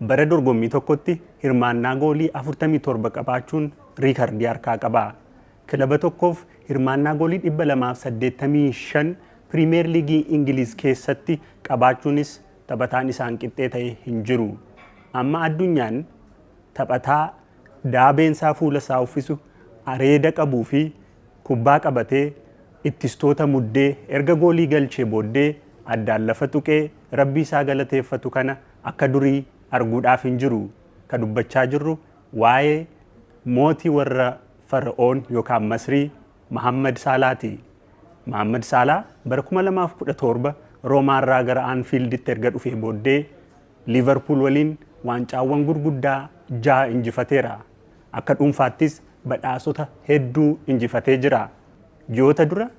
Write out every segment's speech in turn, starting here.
Bara dorgommii tokkotti hirmaannaa goolii 47 qabaachuun riikardii harkaa qaba. Kilaba tokkoof hirmaannaa goolii 285 Piriimeer Liigii Ingiliiz keessatti qabaachuunis taphataan isaan qixxee ta'e hin jiru. Amma addunyaan taphataa daabeensaa fuula isaa uffisu, areeda qabuu fi kubbaa qabatee ittistoota muddee erga goolii galchee booddee addaan lafa tuqee rabbii isaa galateeffatu kana akka durii arguudhaaf hin jiru, ka dubbachaa jirru waayee mooti warra Fara'oon yookaan Masrii Mahaammad Saalaa ti. Mahaammad Saalaa bara 2017 Roomaa irraa gara Anfiilditti erga dhufee booddee Liivarpuul waliin waancaawwan gurguddaa jaha injifateera. Akka dhuunfaattis badhaasota hedduu injifatee jira. Ji'oota dura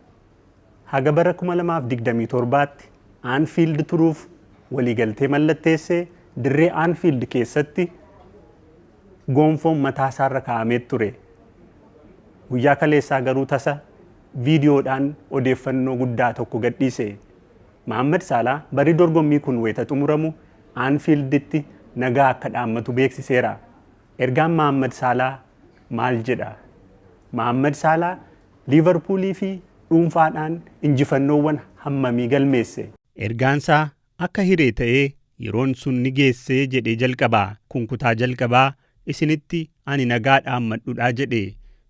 haga bara 2027tti Anfield turuuf waliigaltee mallatteesse dirree Anfield keessatti goonfoon mataa isaarra kaa'amee ture. Guyyaa kaleessaa garuu tasa viidiyoodhaan odeeffannoo guddaa tokko gadhiise. Mahammad Saalaa barri dorgommii kun wayita xumuramu Anfielditti nagaa akka dhaammatu beeksiseera. Ergaan Mahammad Saalaa maal jedha? Mahammad Saalaa Liivarpuuliifi dhuunfaadhaan injifannoowwan hammamii galmeesse? Ergaansaa akka hiree ta'ee yeroon sun ni geesse jedhee jalqaba. Kun kutaa jalqabaa isinitti ani nagaa dhaammadhudha jedhe.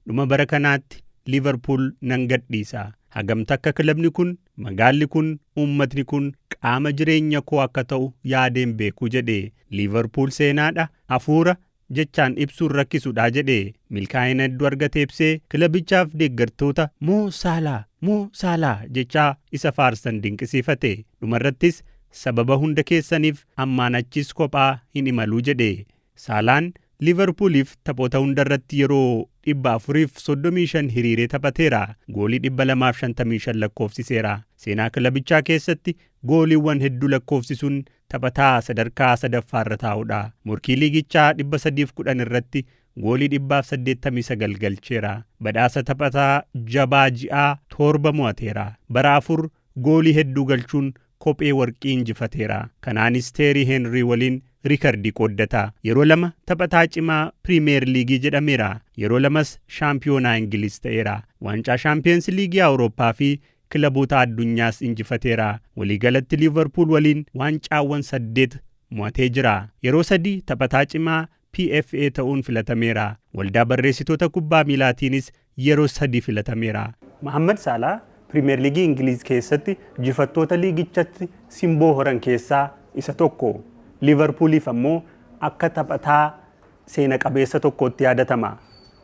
Dhuma bara kanaatti Liivarpuul nan gadhiisa. Hagam takka kilabni kun, magaalli kun, uummatni kun qaama jireenyakoo akka ta'u yaadeen beeku jedhe. Liivarpuul seenaadha, afuura, jechaan ibsuun rakkisudha jedhe. Milkaa'ina hedduu argatee ibsee kilabichaaf deeggartoota Mo Salah, Mo Salah jechaa isa faarsan dinqisiifate. Dhumarrattis sababa hunda keessaniif ammaan achis kophaa hin imalu jedhe. Saalaan Liivarpuuliif taphoota hundarratti yeroo 435 hiriiree taphateera. Goolii 255 lakkoofsiseera. Seenaa kilabichaa keessatti gooliiwwan hedduu lakkoofsisuun Taphataa sadarkaa sadaffaarra taa'udha. Morkii liigichaa 310 irratti goolii 189 galcheera. Badhaasa taphataa jabaa ji'aa torba mo'ateera. Bara afur goolii hedduu galchuun kophee warqii injifateera. Kanaanis Teerii Heenrii waliin riikardii qooddata. Yeroo lama taphataa cimaa Piriimiyeer Liigii jedhameera. Yeroo lamas shaampiyoonaa Ingiliiz ta'eera. Waancaa Shaampiyoonsi Liigii Awurooppaa fi kilaboota addunyaas injifateera. Waliigalatti Liivarpuul waliin waancaawwan saddeet mo'atee jira. Yeroo sadi taphataa cimaa PFA ta'uun filatameera. Waldaa Barreessitoota Kubbaa Miilaatiinis yeroo sadi filatameera. Mohaammad Saalaah Piriimeer Liigii Ingiliiz keessatti jifattoota liigichatti simboo horan keessaa isa tokko. Liivarpuuliif ammoo akka taphataa seena qabeessa tokkootti yaadatama.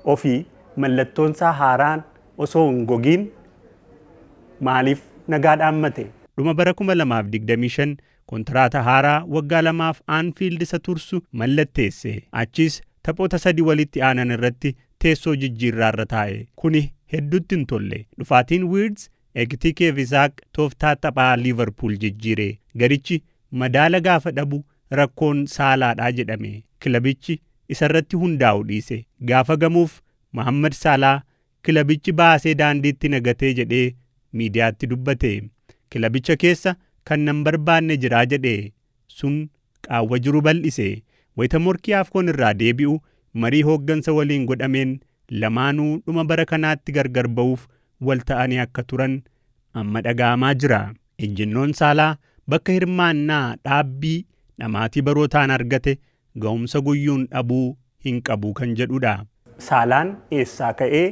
Ofii mallattoonsaa haaraan osoo hin gogiin maaliif nagaa dhaammate? Dhuma bara 2025 kontiraata haaraa waggaa lamaaf Anfiild isa tursu mallatteesse. Achiis taphoota sadii walitti aanan irratti teessoo jijjiirraa irra taa'e. Kuni hedduutti hin tolle. Dhufaatiin Wiirtz, Ekitike fi Isaaq tooftaa taphaa Liivarpuul jijjiire. Garichi madaala gaafa dhabu rakkoon Saalaadha jedhame. Kilabichi isarratti hundaa'u dhiise. Gaafa gamuuf Mohaammad Saalaa kilabichi baasee daandiitti na gatee jedhee miidiyaatti dubbate. Kilabicha keessa kan nan barbaanne jira jedhe. Sun qaawwa jiru bal'ise. Wayita morkii Afcon irraa deebi'u marii hooggansa waliin godhameen lamaanuu dhuma bara kanaatti gargar ba'uuf wal ta'anii akka turan amma dhaga'amaa jira. Ejjennoon Saalaa bakka hirmaannaa dhaabbii dhamaatii barootaan argate gahumsa guyyuun dhabuu hin qabu kan jedhudha. Saalaan eessaa ka'ee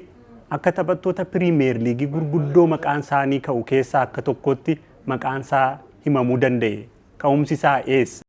akka taphattoota Piriimeer Liigii gurguddoo maqaan isaanii ka'u keessaa akka tokkootti maqaan isaa himamuu danda'e? Ka'umsi isaa eessa?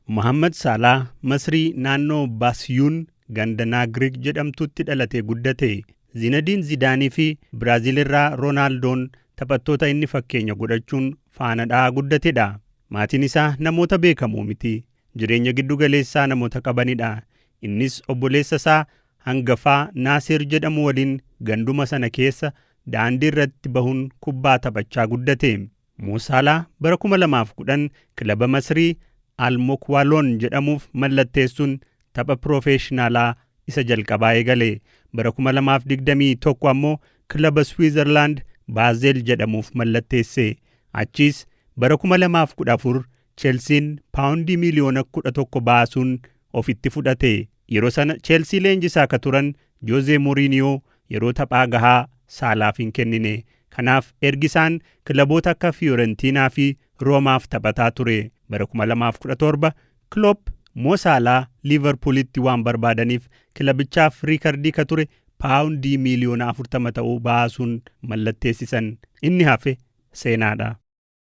Mohaammad Saalaah Masrii naannoo Baasiyuun ganda Naagriik jedhamtutti dhalatee guddate. Zinadiin Zidaanii fi Biraaziil irraa Roonaaldoon taphattoota inni fakkeenya godhachuun faana dha'aa guddatedha. Maatiin isaa namoota beekamoo miti. jireenya giddu galeessaa namoota qabanidha. Innis obboleessa isaa hangafaa Naasir jedhamu waliin ganduma sana keessa daandii irratti bahuun kubbaa taphachaa guddate. Mo Salah bara 2010 kilaba Masrii Al Mokwaloon jedhamuuf mallatteessuun tapha piroofeeshinaalaa isa jalqabaa eegale. Bara 2021 ammoo kilaba Swiizerlaand Baazel jedhamuuf mallatteesse. Achiis bara 2014 Chelsiin paawundii miiliyoona 11 baasuun ofitti fudhate. Yeroo sana Chelsii leenjisaa ka turan Jose Mourinho yeroo taphaa gahaa Saalaaf hin kennine. Kanaaf ergi isaan kilaboota akka Fiorentina fi Roomaaf taphataa ture. Bara 2017 Klopp Mo Salah Liiverpuulitti waan barbaadaniif kilabichaaf riikardii ka ture paawundii miiliyoona 40 ta'u baasuun mallatteessisan. Inni hafe seenaadha.